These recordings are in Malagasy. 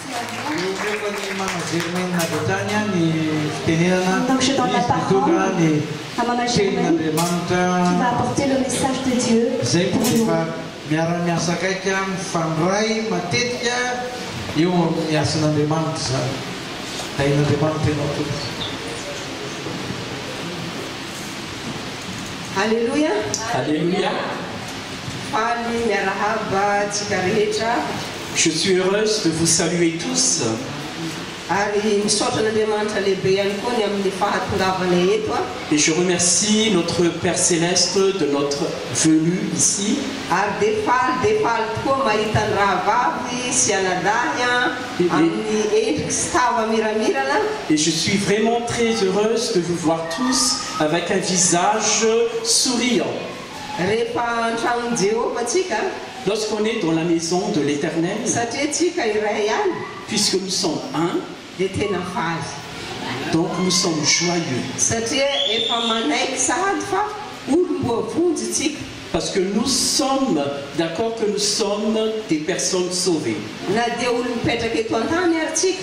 Mihomehy ny managery ny olona avy hatrany ny fitenenana, misy mitondra ny tenin'Andriamanitra izay koa efa miara-miasa akaiky mifandray matetika eo amin'ny asan'Andriamanitra izany. Tahin'Andriamanitra ianao tompoko. Aleloia! Aleloia! Faly miarahaba antsika rehetra. Je suis heureuse de vous saluer tous. Ary misaotra an'Andriamanitra lehibe ihany koa ny amin'ny fahatongavana eto a. Et je remercie notre Père Céleste de notre venue ici. Ary dia faly dia faly tokoa mahita ny rahavavy sy anadahy an, amin'ny endriky sy tava miramirana. Et je suis vraiment très heureuse de vous voir tous avec un visage souriant. Rehefa an-tragnon'i Jehovah tsika Lorsqu'on est dans la maison de l'Eternel. Satria tsika iray ihany. Puisque nous sommes un. Dia tena faly. Donc nous sommes joyeux. Satria efa manaiky sahady fa olom-boavonjy tsika. Parce que nous sommes d'accord que nous sommes des personnes sauvées. Na dia olona mipetraka eto an-tany ary tsika.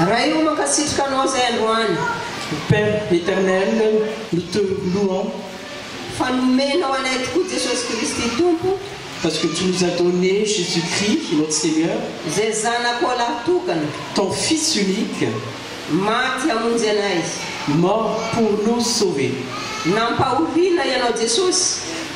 Ray o mankasitraka anao zay androany. Ô Père Eternel nous te louons. Fa nomenao anay tokoa Jesosy Kristy Tompo. Parce que tu nous as donné Jesus Christ notre Seigneur. Zay zanakao lahy tokana. Ton fils unique. Maty hamonjy anay. Mort pour nous sauver. Nampahoriana ianao Jesosy.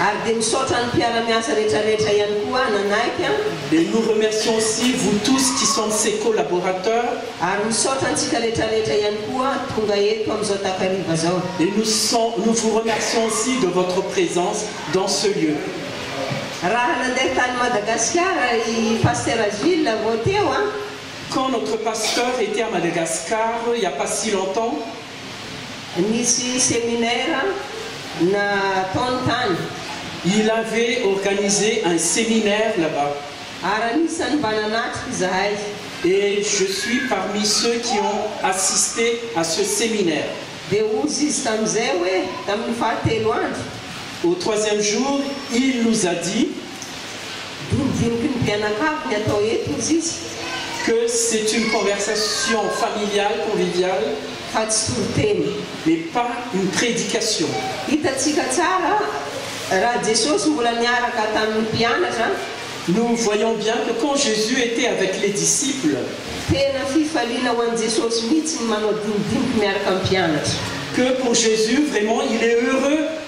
Ary dia misaotra ny mpiara-miasa rehetra rehetra ihany koa nanaiky an. Et nous remercions aussi vous tous qui sont ses collaborateurs. Ary misaotra antsika rehetra rehetra ihany koa tonga eto amin'izao takariva izao. Et nous sont nous vous remercions aussi de votre présence dans ce lieu. Raha nandeha tany Madagasikara i Pasitera Gilles vao teo an. Quand notre Pasteur était à Madagascar il n'y a pas si longtemps. Nisy seminaire nataony tany. Il avait organisé un séminaire là-bas. Ary anisan'ny mba nanatrika izahay. Et je suis parmi ceux qui ont assisté à ce séminaire. Dia hozy izy tamin'izay hoe, Tamin'ny fahatelo andro. Au troisième jour, il nous a dit. Dodiniky ny mpianakavy ny atao eto hoy izy. Que c'est une conversation familiale, conviviale, fa tsy toriteny, mais pas une prédication. Hitantsika tsara raha Jesosy mbola niaraka tamin' ny mpianatra. Nous voyons bien que quand Jésus était avec les disciples. Tena fifaliana ho an'i Jesosy mihitsy ny manao dinidiniky miaraka amin'ny mpianatra. Que pour Jésus vraiment il est heureux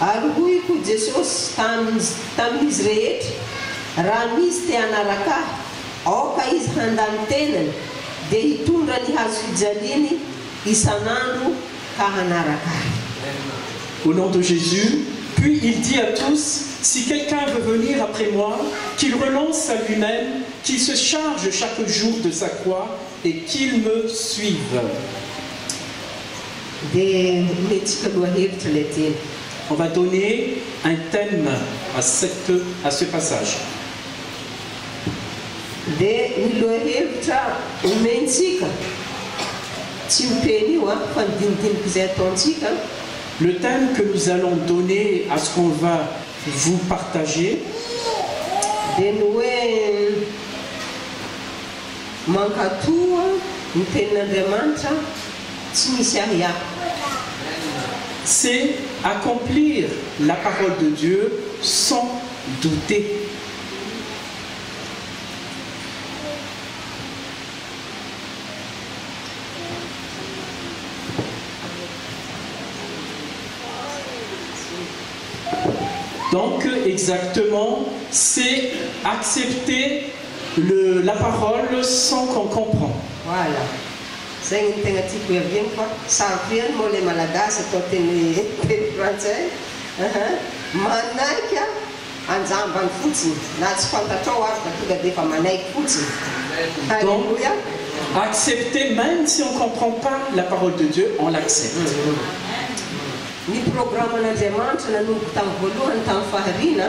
Ary hoy koa Jesosy tamin'izy rehetra, Raha misy te hanaraka Ahy, aoka izy handà ny tenany, dia hitondra ny hazofijaliany isan'andro ka hanaraka Ahy. Au nom de Jésus, puis il dit à tous, si quelqu'un veut venir après moi, qu'il renonce à lui-même, qu'il se charge chaque jour de sa croix, et qu'ils me suivent. Dia omentsika lohahevitra ilay teny. On va donner un thème à cette, à ce passage. Dia ny lohahevitra omentsika, tsy io teny io an, fa ny dinidin'k'izay ataontsika. Le thème que nous allons donner à ce qu'on va vous partager. Dia ny hoe. Mankatò ny tenin'Andriamanitra tsy misy ahiahy. C'est accomplir la parole de Dieu sans douter. Donc exactement c'est accepter Le la parole sans qu'on comprend. Voilà. Zay no tegna tiako ihaviany fa sarotra ihany moa ilay malagasy atao teny teny frantsay ah. Manaiky a! Anjambany fotsiny na tsy fantatrao aza fa tonga dia efa manaiky fotsiny. Alléluia. Donc accepter meme si on comprend pas la parole de Dieu on l'accepte. Ny programan'Andriamanitra nanomboka tamin'ny voalohany tamin'ny fahariana.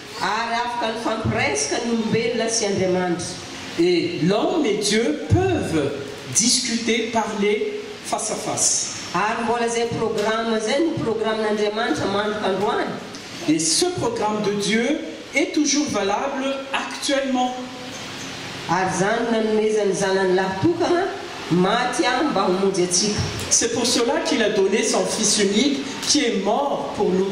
Ary afaka nifampireska ny olombelona sy Andriamanitra. Et l'homme et Dieu peuvent discuter, parler face à face. Ary mbola izay programme izay no programen'Andriamanitra mandrika androany. Et ce programme de Dieu est toujours valable actuellement. Ary izany no nanomezan'ny Zanany lahy tokana maty ahy mba homonjy antsika. C'est pour cela qu'il a donné son Fils unique qui est mort pour nous.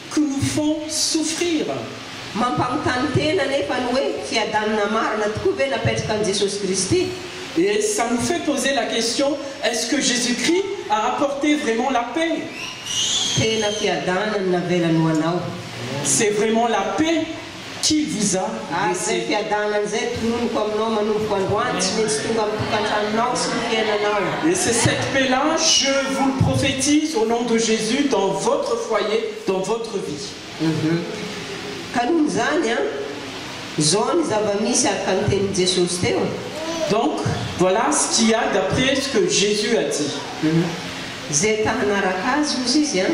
que nous font souffrir. Mampanontany tena anefa ny hoe, fiadanana marina tokoa ve napetraka an'i Jesosy Kristy? Et ça nous fait poser la question, est-ce que Jesus Christ a apporté vraiment la paix? Tena fiadanana navelany ho anao. C'est vraiment la paix? Qui vous a laissé? Ary izay fiadanana izay tononiko aminao manomboka androany tsy maintsy tonga amin'ny tokantranonao sy ny fiainanao. Et c'est cette paix là, je vous le prophétise au nom de Jesus, dans votre foyer, dans votre vie. Ka noho izany an, izao ny zava-misy araka ny tenin'i Jesosy teo. Donc, voilà ce qu'il y a d'après ce que Jesus a dit. Izay ta hanaraka Azy, hozy izy an.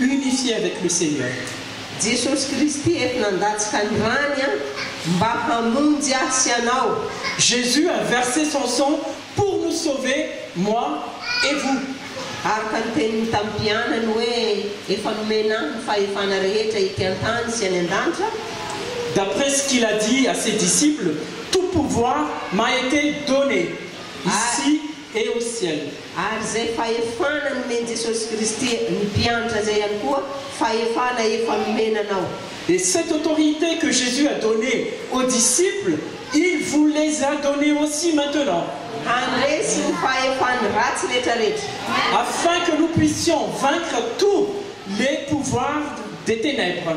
Unifié avec le Seigneur. Jesosy Kristy eto nandatsika ny rany an mba hamonjy ahy sy anao. Jesus a verse son sang pour nous sauver moi et vous. Araka ny teniny tamin'ny mpianany hoe efa nomena ahy ny fahefana rehetra ety an-tany sy any an-danitra. D'après ce qu'il a dit à ses disciples, tout pouvoir m'a été donné ici. Eo siany. Ary izay fahefana nomen'i Jesosy Kristy ny mpiantra izay ihany koa fahefana efa nomena anao. Et cette autorité que Jesus a donné aux disciples, il vous les a donné aussi maintenant. Handresy ny fahefany ratsy retraretra. Afin que nous puissions vaincre tous les pouvoirs des ténèbres.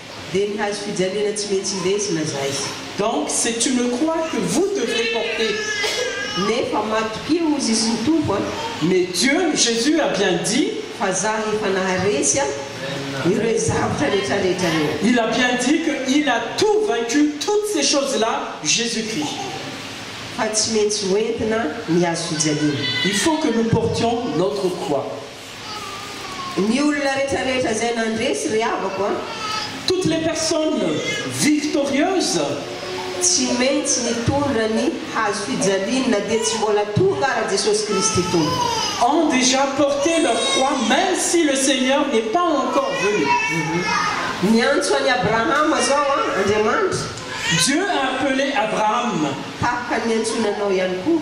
dia ny hazo fijaliana tsy mety indesina zay. Donc c'est tu ne crois que vous devrez porter nefa matokia hozy izy ny Tompo a! Mais Dieu, Jesus a bien dit. Fa zah efa naharesy a ireo zavtra rehetra rehetra reo. Il a bien dit que il a tout vaincu toutes ces choses là Jesus Christ. Fa tsy maintsy hoentina ny hazo fijaliana. Il faut que nous portions notre croix. Ny olona rehetra rehetra zay nandresy ry havako a. Toutes les personnes victorieuses tsy maintsy nitondra ny hazo fijaliany na dia tsy mbola tonga ara Jesosy Kristy Tompo. Ont déjà porté leur croix meme si le Seigneur n'est pas encore venu. Niantso an'i Abrahama zao a Andriamanitra. Dieu a appelé Abraham. Tahaka ny niantsoana anao ihany koa.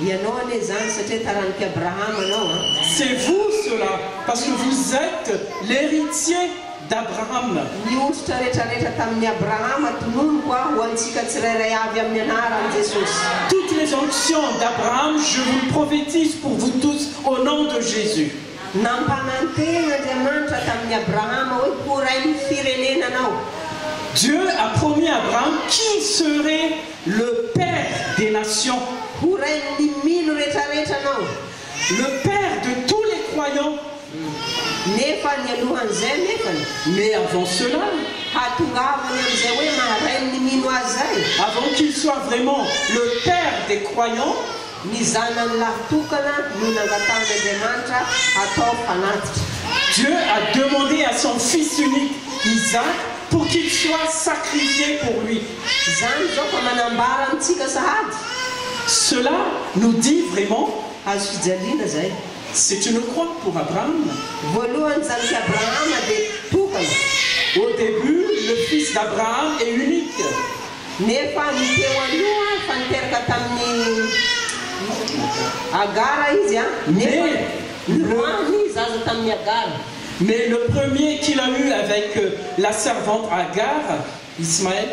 Ianao anie izany satria taranak'i Abrahama anao an! C'est vous cela parce que vous etes l'heritier d'Abraham. Ny ondritra rehetra rehetra tamin'i Abrahama tononiko aho ho antsika tsirairay avy amin'ny anaran'i Jesosy. Toutes les onctions d'Abraham je vous le prophétise pour vous tous au nom de Jésus. Nampanantena Andriamanitra tamin'i Abrahama hoe ho rain'ny firenena anao. Dieu a promis à Abraham qu'il serait Le père des nations ho rain'ny mino retraretra anao Le père de tous les croyants Nefa nialohan'izay anefany. Mais avant cela. Hahatongavany amin'izay hoe maha rain'ny mino azy izay. Avant qu'il soit vraiment le père des croyants. Ny zanany lahy tokana no nangatahan'Andriamanitra hatao mpanatitra. Dieu a demandé à son fils unique Isaac pour qu'il soit sacrifié pour lui. Zany zao fa manambara amitsika sahady. Cela nous dit vraiment hazo fijaliana zay c'est une croix pour Abraham. Voalohany zanaky Abrahama de tokana. Au début le fils d'Abraham et unique. Nefa ny teo aloha fa niteraka taminy Agara izy a. Nefa nirwany zaza taminy Agara. Mais le premier qu'il a eu avec la servante Agar. Ismaël,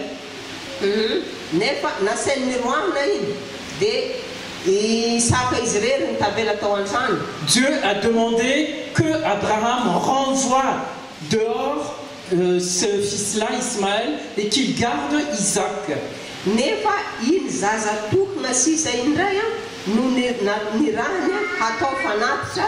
humm nefa nasainy niroahana iny de i Isaka izy irery no tavela tao antrano. Dieu a demandé que Abraham renvoie dehors ce fils là Ismaël et qu'il garde Isaac. Nefa iny zaza tokona sisa iny indray an no nirahany hatao fanatitra.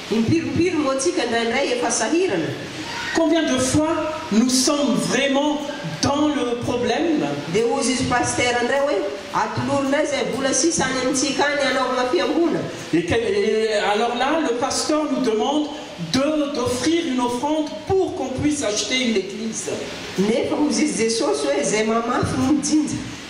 Impiry impiry moa tsika indraindray efa sahirana? Combien de fois nous sommes vraiment dans le problème? Dia hozy izy Pasitera indray hoe, atolory indray izay vola sisa any amintsika any hanaovana fiangonana. Et que, et alors là le pasteur nous demande de d'offrir une offrande pour qu'on puisse acheter une église. Nefa hozy izy Jesosy hoe, izay mamafy no mijinja.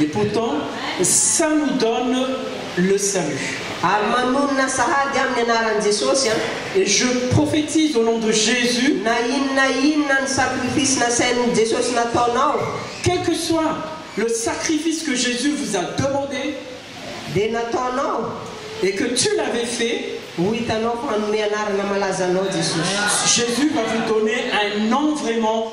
Et pourtant ça nous donne le salut. Ary manonona sahady amin'ny anaran'i Jesosy an! Et je prophétise au nom de Jésus. Na inona na inona ny sacrifice nasain'i Jesosy nataonao. Quel que soit le sacrifice que Jésus vous a demandé. Dia nataonao. Et que tu l'avais fait. Ho hitanao fa hanome anarana malaza anao Jesosy. Jésus va vous donner un nom vraiment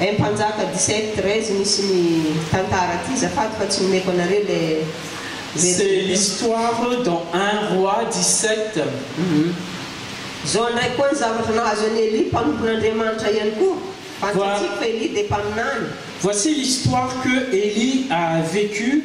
Eeh mpanjaka dix-sept treize misy ny tantara ty zafady fa tsy omeko anareo le C'est version teo. l'histoire dans un roi dix-sept. Humm. Zao ndray koa ny zavatra nahazo an'i Elie mpanompon'Andriamanitra ihany koa. Fantsatsiko fa Elie dia mpaminany. Voici l'histoire que Elie a vécu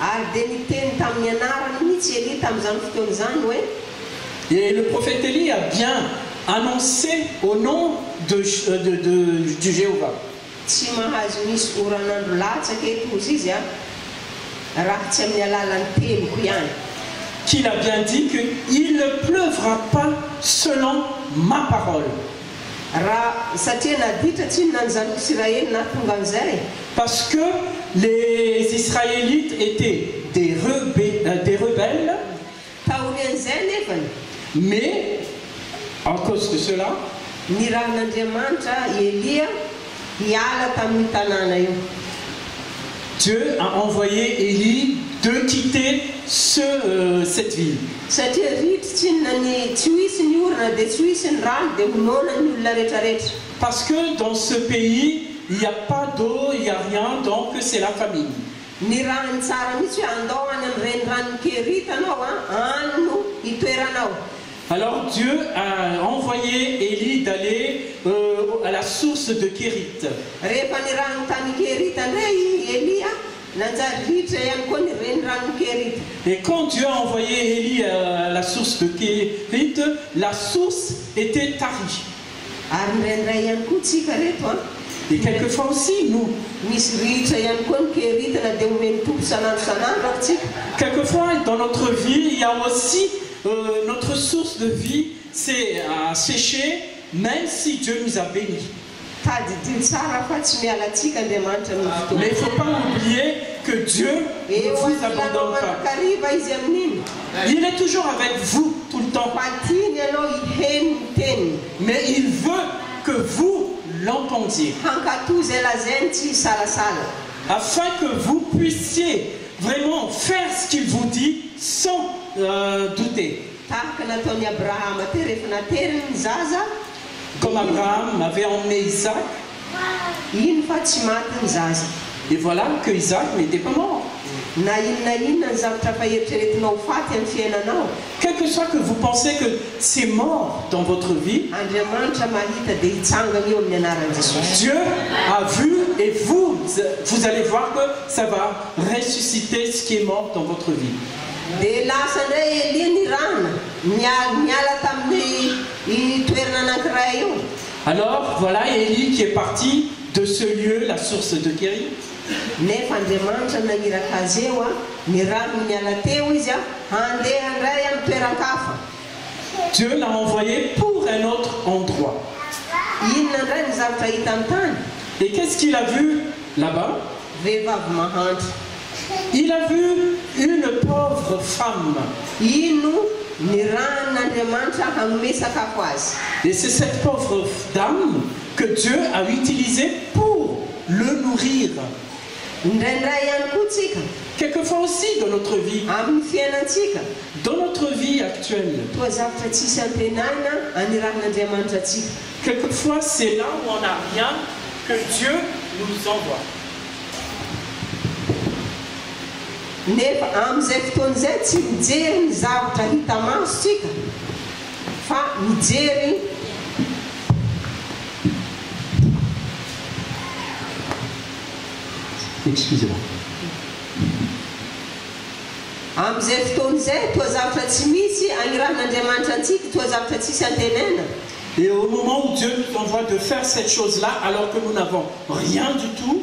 Ary dia niteny tamin'ny anarany mihitsy i Elia tamin'izany fotoana izany hoe. Et le prophète Elie a bien annonce au nom de de de du Jehovah. Tsy mahazo misy oran'andro latsaka eto hozy izy a, raha tsy amin'ny alalan'ny teniko ihany. Qu'il a bien dit que il ne pleuvra pas selon ma parole. Raha satria naditra tsinona ny zanak'i Isiraely nahatonga an'izay? Parce que les Israélites étaient des rebe, des rebelles. Taorian'izay anefany, mais en cause de cela. Nirahan'Andriamanitra i Elia. Niala tamin'io tanàna io. Dieu a envoyé Elie de quitter ce cette ville. Satria ritra tsy inona ny tsy ho hisy ny orana dia tsy ho hisy ny rano dia ho noana ny olona retraretra. Parce que dans ce pays il n'y a pas d'eau il n'y a rien donc c'est la famine. Nirahany tsara mihitsy hoe andao any amin'ny reniranon'i Kerita anao an, any no hitoeranao. Alors Dieu a envoyé Elie d'aller euh à la source de Kérith. Rehefa nirano tany Kérith ndray i Elia, nanjary ritra ihany koa ny reniranon'i Kérith. Et quand Dieu a envoyé Elie à la source de Kérith, la source était tarie. Ary ndraindray ihany koa tsika reto an. Et quelques fois aussi nous. Misy ritra ihany koa ny Kérith na dia omen'ny Tompo san'andro san'andro ary tsika. Quelques fois dans notre vie il y a aussi Notre source de vie s'est sechee meme si Dieu nous a beni. Tadidio tsara fa tsy miala antsika Andriamanitra ny fotoana. Mais faut pas oublier que Dieu ne vous abandonne pas. Kariva izy amin'iny. Il est toujours avec vous tout le temps. Fa tiany ianao hiheno ny teniny. Mais il veut que vous l'entendiez. Hankatò izay lazainy tsy hisalasala. Afin que vous puissiez Vraiment, faire ce qu'il vous dit sans douter. Tahaka nataon'i Abrahama teo rehefa nateriny ny zaza. Comme Abraham avait emmené Isaac. Iny fa tsy maty ny zaza. Et voilà que Isaac n'était pas mort. Na inona inona ny zavatra efa eritreretinao ho faty amin'ny fiainanao. Que que soit que vous pensez que c'est mort dans votre vie, Andriamanitra mahita dia hitsangana io amin'ny anaran'i Jesosy. Dieu a vu et vous vous allez voir que ça va ressusciter ce qui est mort dans votre vie. Dia lasa indray i Elia nirahana, nial, niala tamin'ny io toerana anankiray io. Alors, voilà Elie qui est parti de ce lieu, la source de guéri. Nefa Andriamanitra naniraka azy eo a, ny rano niala teo izy a, handeha ndray am toeran-kafa. Dieu l'a envoyé pour un autre endroit. Inona ndray ny zavtra hitany tany? Et qu'est-ce qu'il a vu là-bas? Vehivavy mahantra. Il a vu une pauvre femme. Ino ny rahan Andriamanitra hanome sakafo azy? Et c'est cette pauvre dame que Dieu a utilisé pour. le nourrir. Indraindray ihany koa tsika. Quelquefois aussi dans notre vie. Amin'ny fiainantsika. Dans notre vie actuelle. Toa zavtra tsisy antenaina anirahin'Andriamanitra antsika. Quelquefois c'est là où on n'a rien que Dieu nous envoie. Nefa amin'izay fotoana izay tsy mijery ny zavtra hita maso tsika. Fa mijery amin'izay fotoana izay toa zavatra tsy misy anirahan'Andriamanitra antsika, toa zavatra tsisy antenaina. Et au moment où Dieu nous envoie de faire cette chose-là alors que nous n'avons rien du tout,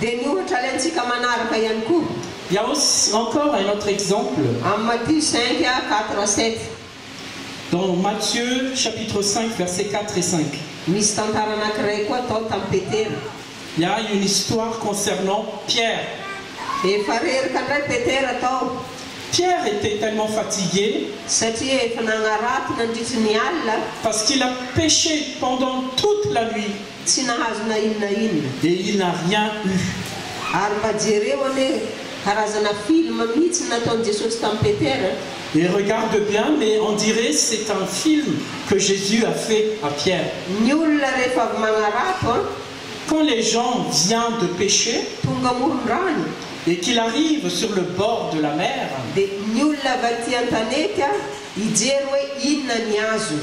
Dia ny ohatra alaintsika manaraka ihany koa. Dia aussi encore un autre exemple. Amin'ny Matthieu cinq, quatre à sept. Dans Matthieu chapitre cinq verset quatre et cinq. Misy tantara anankiray koa tao tamin'i Petera. Il y a une histoire concernant Pierre. Efa reraka indray Petera tao. Pierre était tellement fatigué. Satria efa nagnarato nandritry ny alina. Parce qu'il a péché pendant toute la nuit. Tsy nahazo na in na in. Et il n'a rien eu. Ary mba jereo anie karazana film mitsy nataon'i Jesosy tamin'i Petera. Et regarde bien mais on dirait c'est un film que Jesus a fait à Pierre. Ny olona rehefa avy magnarato an. Quand les gens vient de pecher. Tonga amoron-drano. Et qu'il arrive sur le bord de la mer. Dia ny olona avy aty an-tanety an hijery hoe inona ny azony.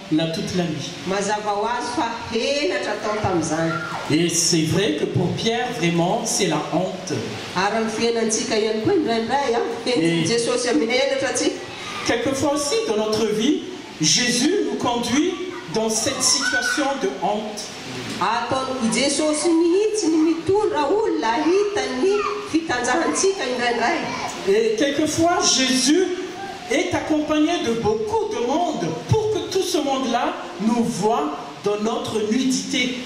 na toute la nuit. Mazava ho azy fa henatra tao tamin'izany. Et c'est vrai que pour Pierre vraiment c'est la honte. Ary amin'ny fiainantsika ihany koa indraindray an, henon'i Jesosy amin'ny henatra tsika. Quelque fois aussi dans notre vie Jesus nous conduit dans cette situation de honte. Ataon'i Jesosy mihitsy ny mitondra olona hahita ny fitanjahantsika indraindray. Et quelque fois Jesus. est accompagné de beaucoup de monde pour que tout ce monde là nous voit dans notre nudité.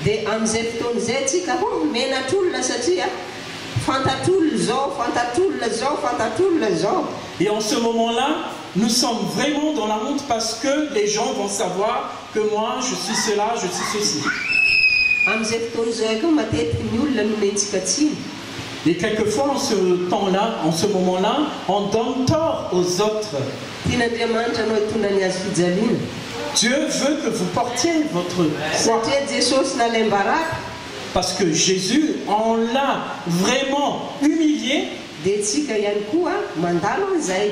Dia amin'izay fotoana izay tsika ho menatr'olona satria fantatr'olona izao, fantatr'olona izao, fantatr'olona izao. Et en ce moment là nous sommes vraiment dans la honte parce que les gens vont savoir que moi je suis cela, je suis ceci. Amin'izay fotoana izay koa matetika ny olona no omentsika tsiny. Et quelque fois en ce temps là, en ce moment là, on donne tort aux autres. Tian'Andriamanitra anao hitondra ny Azy fijaliana. Dieu veut que vous portiez votre croix. Satria Jesosy nalaim-baraka. Parce que Jésus, on l'a vraiment humilié. Dia tsika ihany koa mandalo an'izay.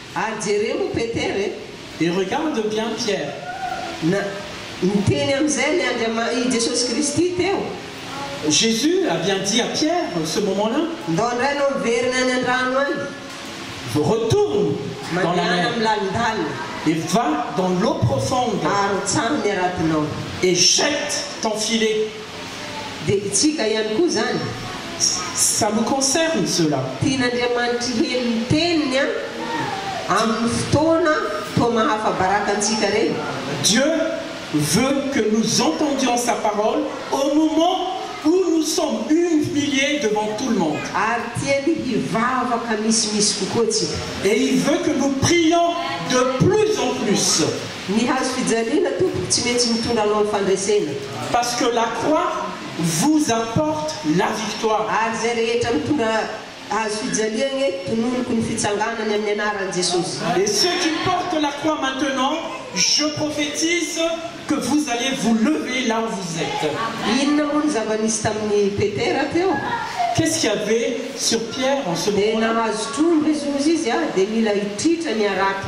Ary jereo o Petera e! Et regarde bien Pierre! Na, niteny amin'izay ny Andriama-, i Jesosy Kristy teo. Jesus a bien dit à Pierre, ce moment là. Ndao indray ianao miverina any an-drano any. Retourne dans la Mandehana mer. amin'ny lalindalina. Et va dans l'eau profonde. Ary tsano ny aratinao. Et jette ton filet. Dia itsika ihany koa izany. Ça nous concerne cela. Tian'Andriamanitry heno ny teniny an, amin'ny fotoana toa mahafa-baraka antsika ireny. Dieu veut que nous entendions sa parole au moment où nous sommes humiliés devant tout le monde. Ary tiany hivavaka misimisy kokoa tsika. Et il veut que nous prions de plus en plus. Ny hazo fijaliana tompoko tsy metsy mitondra anao am fandresena. Parce que la croix vous apporte la victoire. Ary izay rehetra mitondra hazo fijaliagna e tononiko ny fitsanganany amin'ny anaran'i Jesosy. Et ceux qui portent la croix maintenant je prophétise que vous allez vous lever là où vous etes. Inona moa ny zava nisy tamin'i Petera teo? Qu'est-ce qu'il y avait sur Pierre en ce moment là? Dia nahazo trondro izy ozy izy a dia mila hitritra ny harato.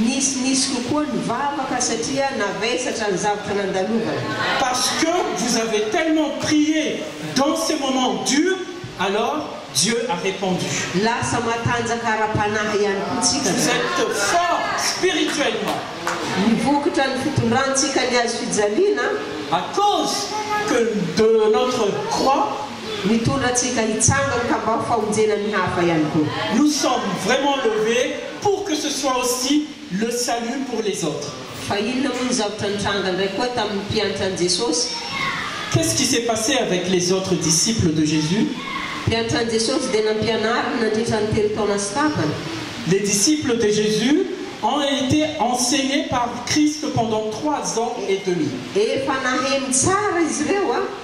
Nisy nisy kokoa ny vavaka satria navesatra ny zavatra nandalovana. Parce que vous avez tellement prié dans ces moments durs alors Dieu a repondu. Lasa matanjaka ara-panahy ihany koa tsika Vous zao. êtes fort spirituellement. Ny vokatra ny fitondrantsika ny hazo fijaliana. À cause que de notre croix. Mitondra antsika hitsangana ka mba ho famonjena ny hafa ihany koa. Nous sommes vraiment levés. pour que ce soit aussi le salut pour les autres. Fa inona moa ny zavatra nitranga indray koa tamin'ny mpiantran'i Jesosy? Qu'est-ce qui s'est passé avec les autres disciples de Jesus? Mpiantran'i Jesosy dia nampianariny nandritra ny telo taona sy tapany. Les disciples de Jesus ont été enseignés par Christ pendant trois ans et demi. Efa naheno tsara izy ireo.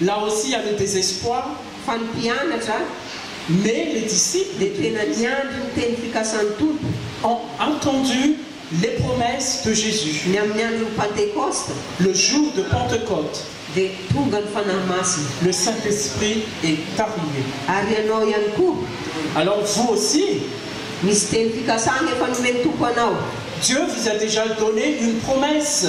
Là aussi à le désespoir fa ny mpianatra mais les disciples dia tena niandry ny teny fikasan'ny Tompo, ont attendu les promesses de Jésus. Ny amin'ny andron'ny Pantekosta, Le jour de Pentecôte. Dia tonga ny Fanahy Masina. Le Saint-Esprit est arrivé. Ary ianao ihany koa. Alors vous aussi. Misy teny fikasana efa nomen'ny Tompo anao. Dieu vous a déjà donné une promesse.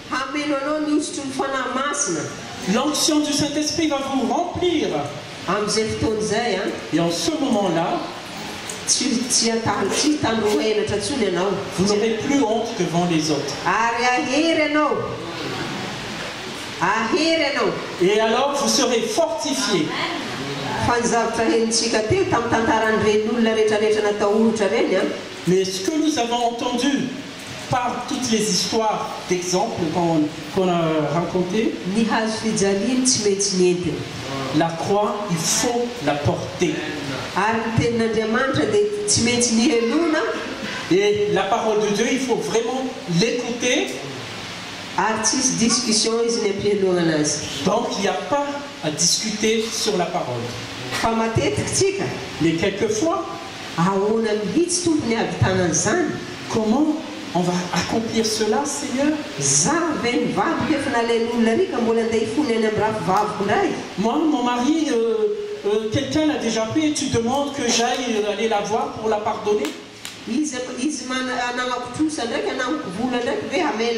Hameno anao ny hosotry ny Fanahy Masina. L'onction du Saint Esprit va vous remplir. Amin'izay fotoana izay an. Et en ce moment là, tsy, tsy hataho, tsy hitandro ho henatra intsony ianao. Vous n'aurez plus honte devant les autres. Ary hahery ianao. Hahery ianao. Et alors vous serez fortifiés. Fa ny zavatra henontsika teo, tamin'ny tantaran'ireny olona rehetrarehetra natahotra ireny an. Mais ce que nous avons entendu. par toutes les histoires d'exemples qu'on a raconter. Ny hazo fijaliany tsy maintsy nentina. La croix il faut la porter. Ary ny tenin'Andriamanitra dia tsy maintsy nihenona. Et la parole de Dieu il faut vraiment l'écouter. Ary tsy hisy discussion izy ny ampihenonana azy. Donc il n'y a pas à discuter sur la parole. Fa matetika tsika. Mais quelquefois. Ahoana mihitsy Tompo ny ahavitana an'izany? Comment on va accomplir cela Seigneur? Za ve nivadiko efa nalemy olona ry ka mbola andeha hifony any am rafivaviko ndray? Moi mon mari euh euh quelqu'un l'a dejà fait et tu demandes que j'aille aller la voir pour la pardonner? Izy izy manana namako trosa ndraiky anamako vola ndraiky ve hamela?